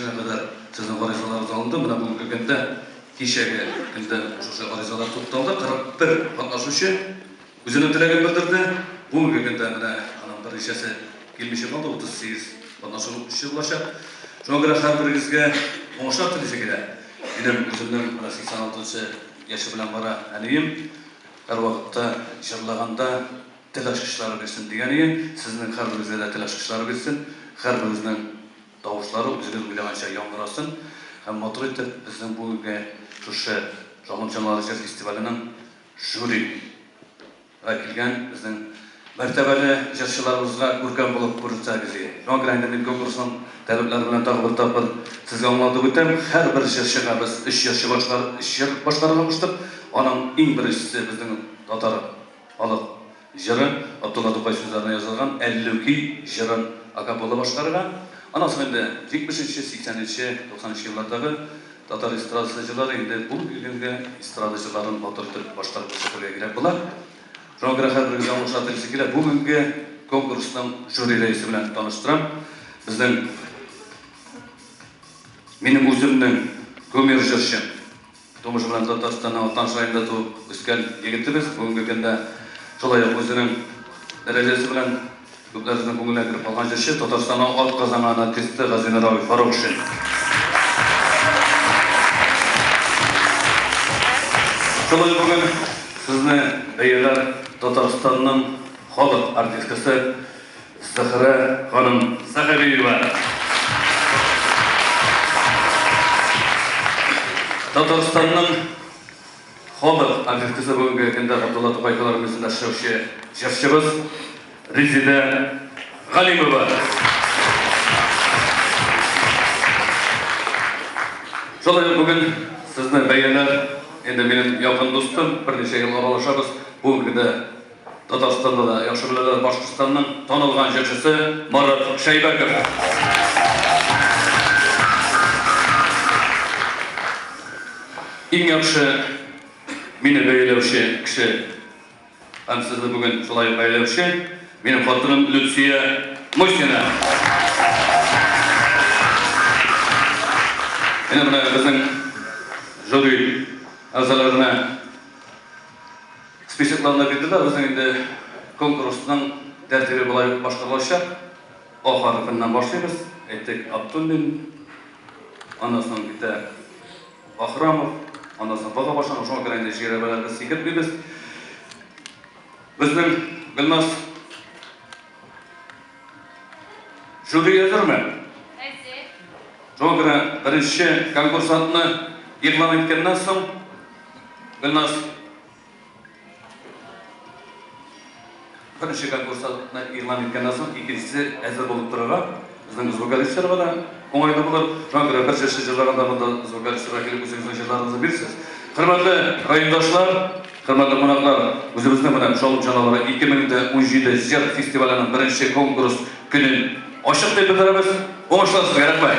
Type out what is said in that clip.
Шуңа кадәр сезнең гаризаларыгыз алынды, менә бүгенге көндә, кичәге көндә шушы гаризалар тукталды, 41 катнашучы үзенең теләген белдерде. Бүгенге көндә менә аның берничәсе килмичә калды, 38 катнашучы булачак. Шуңа күрә һәрберегезгә уңышлар телисе килә. Минем үземнең менә 86 нчы яше белән бара әнием, һәрвакытта җырлаганда тел ачкычлары бирсен дигән иде, сезнең һәрберегезгә дә тел ачкычлары бирсен, һәрберегезнең. тавышлары үзегез уйлаганча яңгырасын һәм матур итеп безнең бүгенге шушы Җанлы җанлар җыр фестиваленең жюри га килгән безнең мәртәбәле җырчыларыбызга күркәм булып күрсәтсәгез ие. Шуңа күрә инде мин конкурсның таләпләре белән тагы бер тапкыр сезгә аңлатып үтәм, һәрбер җырчыга без өч җырчы башкарып, өч җыр башкарырга куштык, аның иң беренчесе безнең татар халык. Җырын Абдулла Тукай сүзләренә язылган Әллүки җырын акапелла башкарырга, аннан соң инде җитмешенче, сиксәненче, туксанынчы еллардагы татар эстрадасы җырлары инде булып килгәнгә эстрада җырларын матур итеп башкарып күрсәтергә кирәк була. Шуңа күрә һәрберегезне алгышлар телисе килә. Бүгенге конкурсның жюри рәисе белән таныштырам. Безнең минем үземнең кумир җырчым. Тумышы белән Татарстанның Атлант шаенда туып үскән егетебез бүгенге көндә шулай ук үзенең дәрәҗәсе белән күпләребезнең күңеленә кереп калган җырчы, Татарстанның атказанган артисты Газинур абый Фарукшин. Шулай ук бүген сезне бәяләр Татарстанның халык артисткасы, Зөһрә ханым Сәгъдиева. Татарстанның халык артисткасы бүгенге көндә Габдулла Тукай филармиясендә эшләүче җырчыбыз Резидә Галимова. Шулай ук бүген сезне бәяләр, инде минем якын дустым, берничә ел аралашабыз, бүген генә Татарстанда да яхшы беләләр Башкортстанның танылган җырчысы Марат Шәйбәков. Иң яхшы мине бәяләүче кеше һәм сезне бүген шулай бәяләүче минем хатыным Люция Мосина. Менә безнең жюри әгъзаларына Списокларны бирде дә, безнең инде конкурсның тәртибе болай башкарылачак. А хәрефеннән башлыйбыз. Әйттек, Абдуллин, аннан соң китә Бахрамов, аннан соң Бага башланган, шуңа күрә инде жирәбәләрне сикертмибез. Безнең Гөлназ Жюри әзерме? Әзер. Шуңа күрә беренче конкурсантны игълан иткәннән соң, Гөлназ Беренче конкурсантны игълан иткәннән соң, икенчесе әзер булып торырга, безнең звукорежиссерга да уңайлы булыр. Шуңа күрә бер җырчы җырлаганда монда звукорежиссерга килеп үзегезнең җырларыгызны бирсез. Хөрмәтле райондашлар! Хөрмәтле кунаклар, үзебезнең менә Чаллы җаналары 2017 җыр фестиваленең беренче конкурс көнен ачык дип белдерәбез. Уңышлар сезгә, рәхмәт!